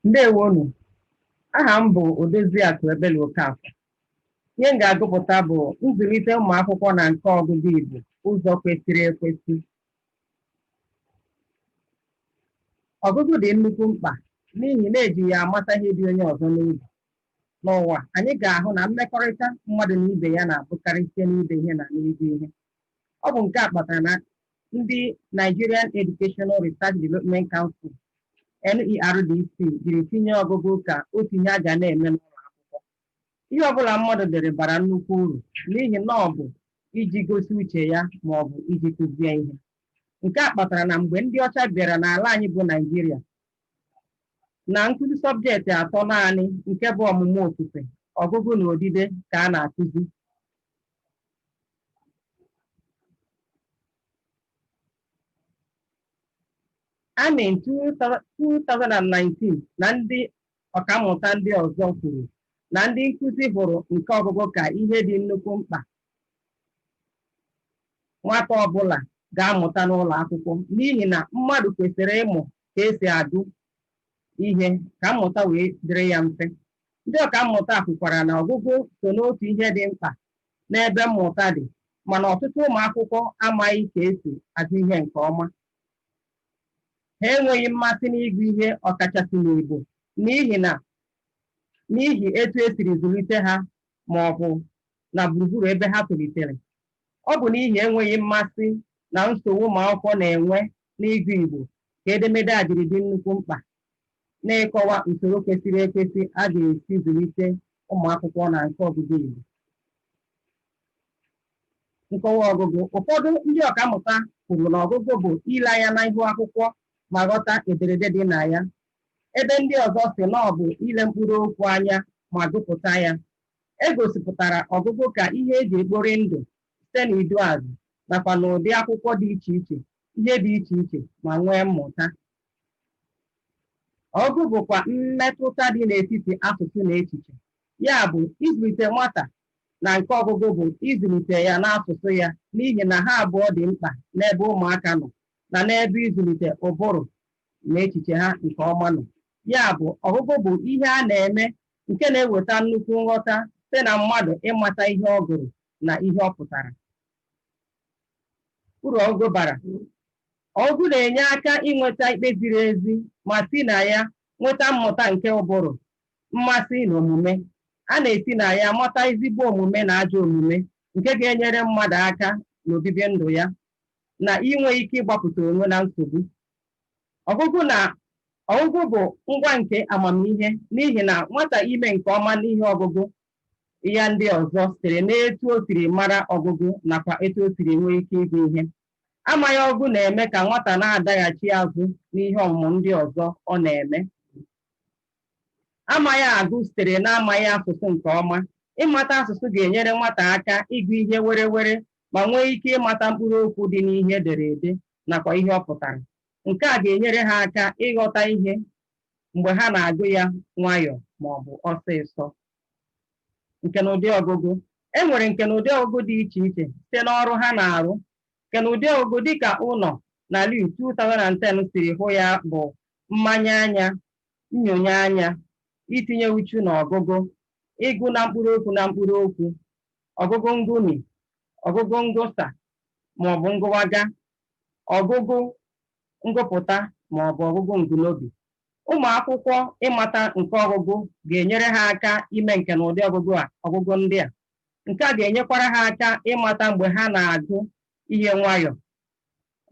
ndewonu aha m bụ Odoziakụ Ebele Okafor Ihe m ga-agụpụta bụ nzụlite ụmụ akwụkwọ na nka ọgụgụ Igbo ụzọ kwesịrị ekwesị. Ọgụgụ dị nnukwu mkpa n'ihi na eji ya amata ihe dị onye ọzọ n'obi. N'ụwa, anyị ga-ahụ na mmekọrịta mmadụ na ibe ya na-abụkarị site n'ide ihe na n'ịgụ ihe. Ọ bụ nke a kpatara na ndị Nigerian Educational Research Development Council, NERDC, jiri tinye ọgụgụ ka otu ihe a ga na-eme n'ụlọ akwụkwọ. Ihe ọ bụla mmadụ dere bara nnukwu uru n'ihi na ọ bụ iji gosi uche ya ma ọ bụ iji kụzie ihe. Nke a kpatara na mgbe ndị ọcha bịara n'ala anyị bụ Naịjirịa, na nkụzi sọbjekti atọ naanị nke bụ ọmụmụ ofufe, ọgụgụ na odide ka a na-akụzi. Ani 2019 na ndị ọkammụta ndị ọzọ kwuru na ndị nkụzi hụrụ nka ọgụgụ ka ihe dị nnukwu mkpa nwata ọbụla ga-amụta n'ụlọ akwụkwọ n'ihi na mmadụ kwesịrị ịmụ ka esi agụ ihe ka mmụta wee dịrị ya mfe ndị ọkammụta kwukwara na ọgụgụ so n'otu ihe dị mkpa n'ebe mmụta dị mana ọtụtụ ụmụ akwụkwọ amaghị ka esi agụ ihe nke ọma ha enweghị mmasị n'ịgụ ihe ọkachasị n'Igbo n'ihi na n'ihi etu e siri zụlite ha ma ọ bụ na gburugburu ebe ha tolitere. Ọ bụ n'ihi enweghị mmasị na nsogbu ụmụ akwụkwọ na-enwe n'ịgụ Igbo ka edemede a jiri dị nnukwu mkpa n'ịkọwa usoro kwesịrị ekwesị a ga-esi zụlite ụmụ akwụkwọ na nka ọgụgụ Igbo. Nkọwa ọgụgụ. Ụfọdụ ndị ọkammụta kwuru na ọgụgụ bụ ile anya n'ihu akwụkwọ ma ghọta ederede dị na ya, ebe ndị ọzọ sị na ọ bụ ile mkpụrụ okwu anya ma gụpụta ya. E gosipụtara ọgụgụ ka ihe e ji ekpori ndụ site n'iduuazị nakwa n'ụdị akwụkwọ dị iche iche, ihe dị iche iche ma nwee mmụta. Ọgụgụ bụkwa mmetụta dị n'etiti asụsụ na echiche. Ya bụ, ịzụlite nwata na nka ọgụgụ bụ ịzụlite ya n'asụsụ ya n'ihi na ha abụọ dị mkpa n'ebe ụmụaka nọ na n'ebe ịzụlite ụbụrụ na echiche ha nke ọma nọ. Ya bụ, ọgụgụ bụ ihe a na-eme nke na-eweta nnukwu nghọta site na mmadụ ịmata ihe ọ gụrụ na ihe ọ pụtara. uru ọgụgụ bara ọgụgụ na-enye aka inweta ikpe ziri ezi ma si na ya nweta mmụta nke ụbụrụ mmasị na omume a na-esi na ya mata ezigbo omume na ajọ omume nke ga-enyere mmadụ aka n'obibi ndụ ya na inwe ike ịgbapụta onwe na nsogbu ọgụgụ na ọgụgụ bụ ngwa nke amamihe n'ihi na nwata ime nke ọma n'ihe ọgụgụ ya ndị ọzọ sitere n'etu o siri mara ọgụgụ nakwa etu o siri nwee ike ịgụ ihe. Amaghị ọgụgụ na-eme ka nwata na-adaghachi azụ n'ihe ọmụmụ ndị ọzọ ọ na-eme. Amaghị agụ sitere n'amaghị asụsụ nke ọma. Ịmata asụsụ ga-enyere nwata aka ịgụ ihe were were ma nwee ike ịmata mkpụrụ okwu dị n'ihe edere ede nakwa ihe ọ pụtara. Nke a ga-enyere ha aka ịghọta ihe mgbe ha na-agụ ya nwayọọ ma ọ bụ ọsịsọ. Nkenụdị ọgụgụ. E nwere nkenụdị ọgụgụ dị iche iche site n'ọrụ ha na-arụ. Nkenụdị ọgụgụ dị ka Unoh na Liu 2010 siri hụ ya bụ mmanye anya, nnyonye anya, itinye uchu n'ọgụgụ, ịgụ na mkpụrụ okwu na mkpụrụ okwu, ọgụgụ ngụmi, ọgụgụ ngụsa ma ọ bụ ngụwaga ọgụgụ ngụpụta ma ọ bụ ọgụgụ ngụnobi. Ụmụ akwụkwọ ịmata nka ọgụgụ ga-enyere ha aka ime nkenụdị ọgụgụ a ọgụgụ ndị a. Nke a ga-enyekwara ha aka ịmata mgbe ha na-agụ ihe nwayọọ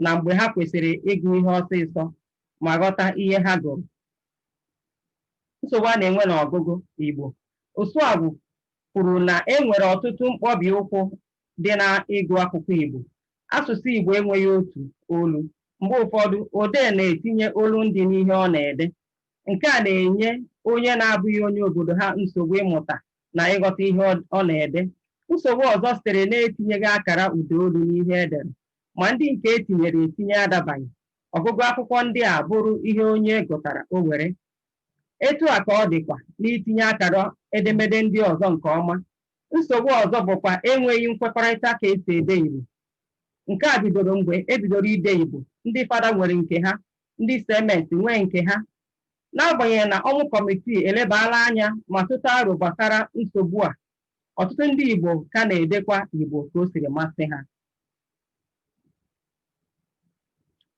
na mgbe ha kwesịrị ịgụ ihe ọsịsọ ma ghọta ihe ha gụrụ. Nsogbu a na-enwe n'ọgụgụ Igbo. Osuagwu kwuru na e nwere ọtụtụ mkpọbi ụkwụ dị na ịgụ akwụkwọ Igbo. Asụsụ Igbo enweghị otu olu. Mgbe ụfọdụ, odee na-etinye olundị n'ihe ọ na-ede. Nke a na-enye onye na-abụghị onye obodo ha nsogbu ịmụta na ịghọta ihe ọ na-ede. Nsogbu ọzọ sitere n'etinyeghị akara ụdaolu n'ihe e dere, ma ndị nke e tinyere etinye adabaghị. Ọgụgụ akwụkwọ ndị a bụrụ ihe onye gụtara o were. Etu a ka ọ dịkwa n'itinye akara edemede ndị ọzọ nke ọma Nsogbu ọzọ bụkwa enweghị nkwekọrịta ka e si ede Igbo. Nke a bidoro mgbe e bidoro ide Igbo, ndị Fada nwere nke ha, ndị CMS nwee nke ha. N'agbanyeghị na Ọnwụ Kọmitii elebaala anya ma tụta aro gbasara nsogbu a, ọtụtụ ndị Igbo ka na-edekwa Igbo ka o siri masị ha.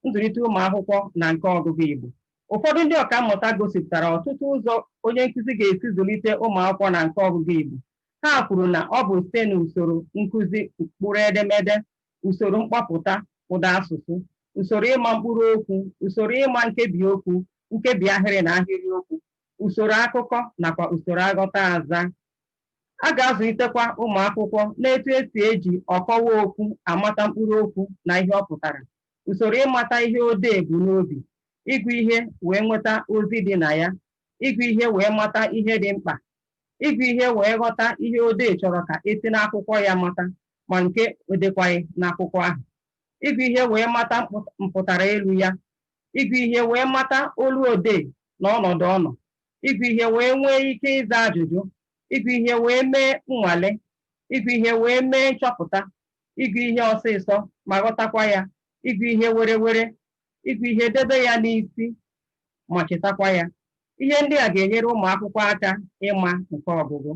nzụlite ụmụ akwụkwọ na nka ọgụgụ Igbo ụfọdụ ndị ọka mmụta gosipụtara ọtụtụ ụzọ onye nkụzi ga-esi zụlite ụmụ akwụkwọ na nka ọgụgụ Igbo ha kwuru na ọ bụ site na usoro nkụzi mkpụrụ edemede usoro mkpọpụta ụda asụsụ usoro ịma mkpụrụ okwu usoro ịma nkebi okwu nkebi ahịrị na ahịrị okwu usoro akụkọ nakwa usoro aghọtaazaa A ga-azụlitekwa ụmụ akwụkwọ n'etu e si eji ọkọwa okwu amata mkpụrụ okwu na ihe ọ pụtara, usoro ịmata ihe odee bu n'obi, ịgụ ihe wee nweta ozi dị na ya, ịgụ ihe wee mata ihe dị mkpa, ịgụ ihe wee ghọta ihe odee chọrọ ka e si n'akwụkwọ ya mata ma nke o dekwaghị n'akwụkwọ ahụ, ịgụ ihe wee mata mpụtara elu ya, ịgụ ihe wee mata olu odee na ọnọdụ ọ nọ, ịgụ ihe wee nwee ike ịza ajụjụ ịgụ ihe wee mee nnwale ịgụ ihe wee mee nchọpụta ịgụ ihe ọsịsọ ma ghọtakwa ya ịgụ ihe werewere ịgụ ihe debe ya n'isi ma chetakwa ya ihe ndị a ga-enyere ụmụ akwụkwọ aka ịma nke ọgụgụ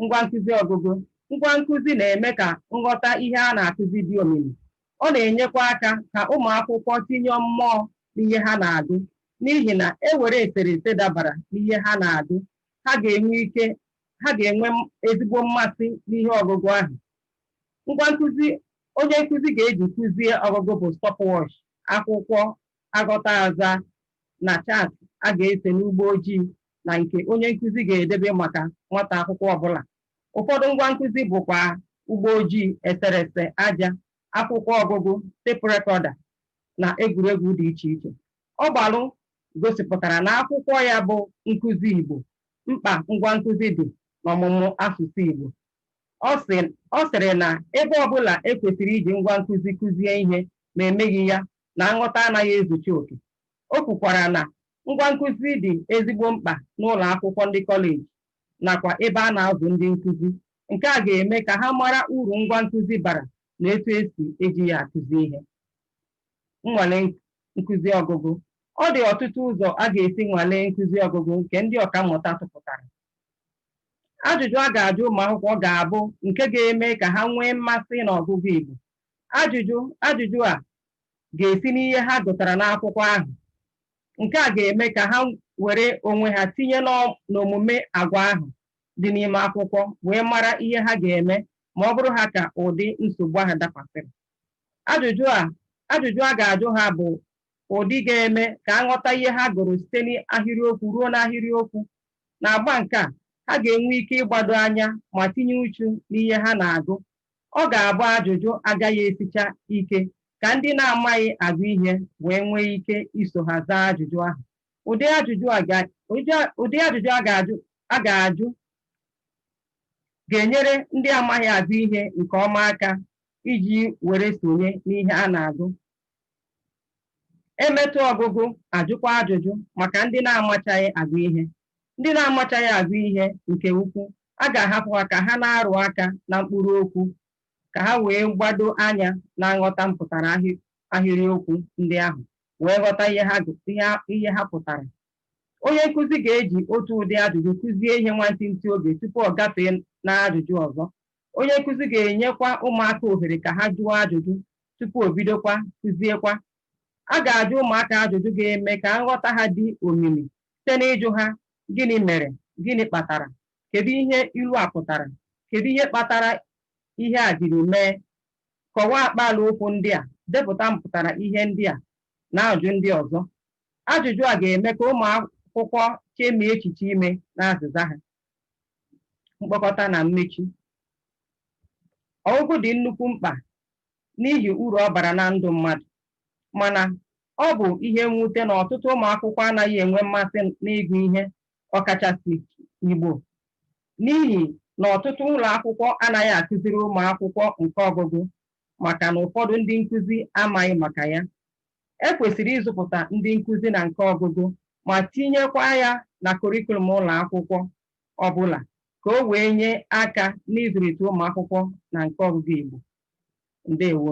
Ngwa nkụzi ọgụgụ. Ngwa nkụzi na-eme ka nghọta ihe a na-akụzi dị omimi. Ọ na-enyekwa aka ka ụmụ akwụkwọ tinye mmụọ n'ihe ha na-agụ n'ihi na e were eserese dabara n'ihe ha na-agụ, ha ga-enwe ike ha ga-enwe ezigbo mmasị n'ihe ọgụgụ ahụ. Ngwa nkụzi onye nkụzi ga-eji kụzie ọgụgụ bụ stopwatch, akwụkwọ aghọta aza na chaatị a ga-ese n'ụgbọ ojii na nke onye nkụzi ga-edebe maka nwata akwụkwọ ọbụla. Ụfọdụ ngwa nkụzi bụkwa ụgbọ ojii, eserese aja, akwụkwọ ọgụgụ, tepu rekọda na egwuregwu dị iche iche. Ọgbalụ gosipụtara na akwụkwọ ya bụ Nkụzi Igbo, Mkpa Ngwa Nkụzi Dị n'Ọmụmụ Asụsụ Igbo. Ọ sịrị na ebe ọbụla e kwesịrị iji ngwa nkụzi kụzie ihe ma e meghị ya na nghọta anaghị ezucha oke. O kwukwara na ngwa nkụzi dị ezigbo mkpa n'ụlọ akwụkwọ ndị kọleji nakwa ebe a na-azụ ndị nkụzi. Nke a ga-eme ka ha mara uru ngwa nkụzi bara na etu e si eji ya akụzi ihe. Nnwale nkụzi ọgụgụ. Ọ dị ọtụtụ ụzọ a ga-esi nwalee nkụzi ọgụgụ nke ndị ọkammụta tụpụtara. Ajụjụ a ga-ajụ ụmụakwụkwọ ga-abụ nke ga-eme ka ha nwee mmasị n'ọgụgụ Igbo Ajụjụ ajụjụ a ga-esi n'ihe ha gụtara n'akwụkwọ ahụ. Nke a ga-eme ka ha were onwe ha tinye n'omume agwa ahụ dị n'ime akwụkwọ wee mara ihe ha ga-eme ma ọ bụrụ ha ka ụdị nsogbu ahụ dakwasịrị. Ajụjụ a ajụjụ a ga-ajụ ha bụ ụdị ga-eme ka a ghọta ihe ha gụrụ site n'ahịrịokwu ruo n'ahịrịokwu. N'agba nke a, ha ga-enwe ike ịgbado anya ma tinye uchu n'ihe ha na-agụ Ọ ga-abụ ajụjụ agaghị esicha ike ka ndị na-amaghị agụ ihe wee nwee ike iso ha zaa ajụjụ ahụ. Ụdị ajụjụ a ga, ụdị a- ụdị ajụjụ a ga-ajụ a ga-ajụ ga-enyere ndị amaghị agụ ihe nke ọma aka iji were sonye n'ihe a na-agụ. e metụ ọgụgụ a jụkwa ajụjụ maka ndị na-amachaghị agụ ihe ndị na-amachaghị agụ ihe nke ukwu a ga-ahapụ ha ka ha na-arụ aka na mkpụrụ okwu ka ha wee gbado anya na nghọta mpụtara ahịrịokwu ndị ahụ wee ghọta ihe ha pụtara onye nkụzi ga-eji otu ụdị ajụjụ kụzie ihe nwantịntị oge tupu ọ gafee na ajụjụ ọzọ Onye nkụzi ga-enyekwa ụmụaka ohere ka ha jụọ ajụjụ tupu o bidokwa kụziekwa. A ga-ajụ ụmụaka ajụjụ ga-eme ka nghọta ha dị omimi site n'ịjụ ha, Gịnị mere? Gịnị kpatara? Kedu ihe ilu a pụtara? Kedu ihe kpatara ihe a jiri mee? Kọwaa akpaalaokwu ndị a. Depụta mpụtara ihe ndị a na ajụjụ ndị ọzọ. Ajụjụ a ga-eme ka ụmụakwụkwọ chemie echiche ime n'azịza ha. mkpokọta na mmechi ọgụgụ dị nnukwu mkpa n'ihi uru ọ bara na ndụ mmadụ mana ọ bụ ihe mwute na ọtụtụ ụmụ akwụkwọ anaghị enwe mmasị n'ịgụ ihe ọkachasị Igbo n'ihi na ọtụtụ ụlọ akwụkwọ anaghị akụziri ụmụ akwụkwọ nka ọgụgụ maka na ụfọdụ ndị nkụzi amaghị maka ya. E kwesịrị ịzụpụta ndị nkụzi na nka ọgụgụ ma tinyekwa ya na kọrịkulum ụlọ akwụkwọ ọ bụla ka o wee nye aka n'ịzụlite ụmụ akwụkwọ na nka ọgụgụ Igbo. Ndewo.